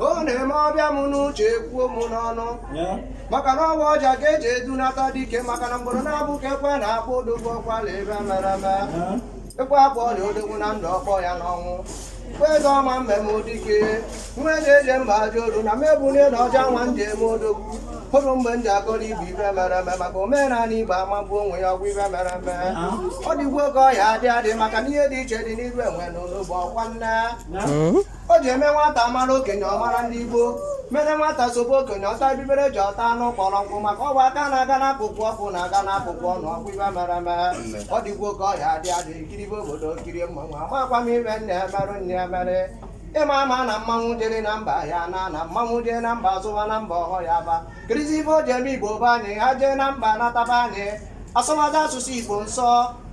ọ na-eme ọ bịa m n'uche kwuo m n'ọnụ maka na ọ bụ ọja ka eji edunata dike maka na mgboro na-abụ ka ekwe na-akpọ odogwu ọkwala ife mere eme ekwe akpọọ nya odogwu na ndụ ọ kpọọ ya n'ọnwụ kwe eze ọma mbem dike nwa eji eje mba ajọ olu na mebunye na ọja nwa nje eme odogwu hụrụ mgbe m ji akọrọ igbo ife mere eme maka omenala igbo amagbu onwe ya ọkwa ife mere eme ọ dịgwo ka ọ ya adị adị maka na ihe dị iche dị n'iru enwe na ụlọ bụ ọkwa nne o ji eme nwata mara okenye ọ mara ndị Igbo mere nwata sobe okenye ọ taba ibere ji ọ taa anụ kpọrọ nkụ maka ọ bụ aka na-aga n'akụkụ ọkụ na-aga n'akụkụ ọnụ ọkwa ife mere eme ọ dịgwo ka ọ ya adị adị kiribe obodo kirie mmanwụ amakwa m ife nna emerụ nne emere ị ma ama na mmanwụ jere na mba ya na na mmanwụ jee na mba zụwa na mba ọhọ ya ba kirizi ife o ji eme igbo be anyị ha jee na mba nata be anyị asọwazi asụsụ igbo nsọ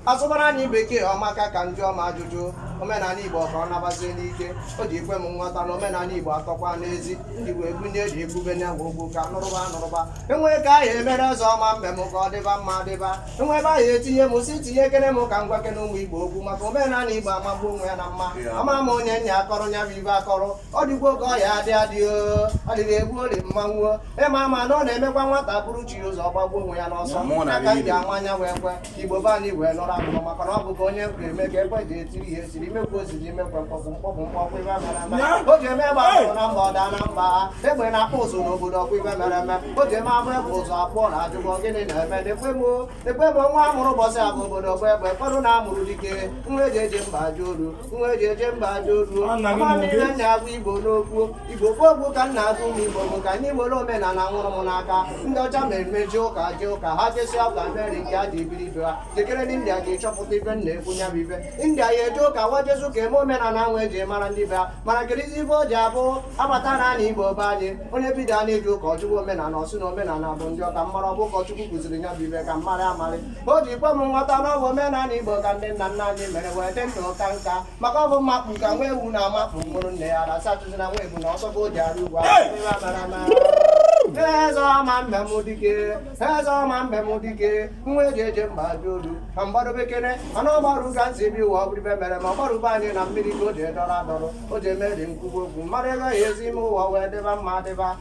asụbara anyị bekee ọmaka ka ndị ọma ajụjụ omenala igbo ka ọ nabazie n'ike o ji ikwe m nghọta na omenala igbo atọkwa n'ezi ndị wee bunye eji ebube na ogwu ka nụrụba nụrụba enwee ka ahịa emere ọzọ ọma mbem ka ọ dịba mma dịba enwee ebe ahịa etinye m si tinye ekene m ka m gwakene ụmụ igbo okwu maka omenala igbo amagbu onwe ya na mma ama m onye nya akọrọ nya bụ ife akọrọ ọ dịgwo ka ọ ya adị adị o ọ dịrị egbu ori mmanwụ ị ma ama na ọ na-emekwa nwata buru chi ụzọ gbagbuo onwe ya n'ọsọ aka m ji ama nya wee kwe igbo be anyị wee lọrọ amụma maka na ọ bụghị onye nkwa eme ka ekwe ji etiri ihe siri imekwu oziri imekwe mkpọpụ mkpọpụ mkpọpụ ife mere eme o ji eme gba ahụ na mba ọ daa na mba ha egbe na-akpụ ụzụ n'obodo ọkwa ife mere eme o ji eme abụ egbe ụzọ abụọ na ajụba ọ gịnị na-eme dekwe m dekwe m nwa amụrụ ụbọsị abụ obodo bụ egbe kpọrụ na amụrụ dike nwa eji eje mba ajọ olu nwa eji eje mba ajọ olu amamina nya agwa igbo n'okwu igbo gbogbo ka nya agwa ụmụ igbo bụ ka anyị were omenala nwụrụ m n'aka ndị ọcha na-eme eje ụka eje ụka ha jesịa ụka mere nke ha ji biri ibe ha jekwuru ndị india ji chọpụta ife nya ekwu nya bụ ife india ya eje ụka wa jesịa ụka eme omenala wa eji mara ndị be ha mana kirizi ife o ji abụ abata na ana igbo be anyị onye bido a na-eje ụka ọ jụwa omenala ọ sị na omenala bụ ndị ọka mmara ọ bụ ụkọchukwu kụziri nya bụ ife ka m marị amarị o ji kwe m nghọta na ọ bụ omenala igbo ka ndị nna nna anyị mere wee dị ndụ kaa nka maka ọ bụ mmakpu ka nwa ewu na-amakpu ṅụrụ nne ya ara sachụzi na nwa ebunu ọsọ ka o ji arị ugwu eze ọma mbem dike eze ọma mbem dike nwa eji eje mba ajọ olu ma mgbadobekere mana ọgbaru ga nzi bi ụwa ọ bụrụ ife mere ma ọ gbarụba anyị na mmiri ka o ji edọrọ adọrọ o ji eme dị nkwugwu okwu mmadụ ego ya ezi ime ụwa wee dịba mma dịba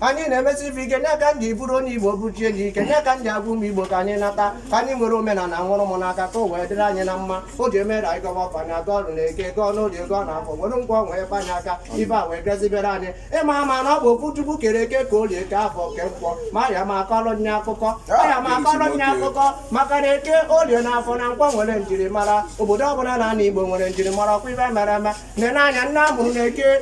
anyị na-emesi ife ike nya ka m ji bụrụ onye igbo bụchie gị ike nya ka m ji agwa ụmụ igbo ka anyị nata ka anyị were omenala nwụrụ m n'aka ka o wee dịrị anyị na mma o ji emere anyị gọwa ọfọ anyị agọọ na eke gọọ n'oye gọọ na afọ were nkwọ wee kwanye aka ife a wee gazibere anyị ị ma ama na ọ bụ okwu chukwu kere eke kee olie kee afọ kee nkwọ ma aya m akọrọ nye akụkọ aya m akọrọ nye akụkọ maka na eke olie na afọ na nkwọ nwere njirimara obodo ọbụla na ana igbo nwere njirimara ọkwa ife mere eme nene anya onye amụrụ na eke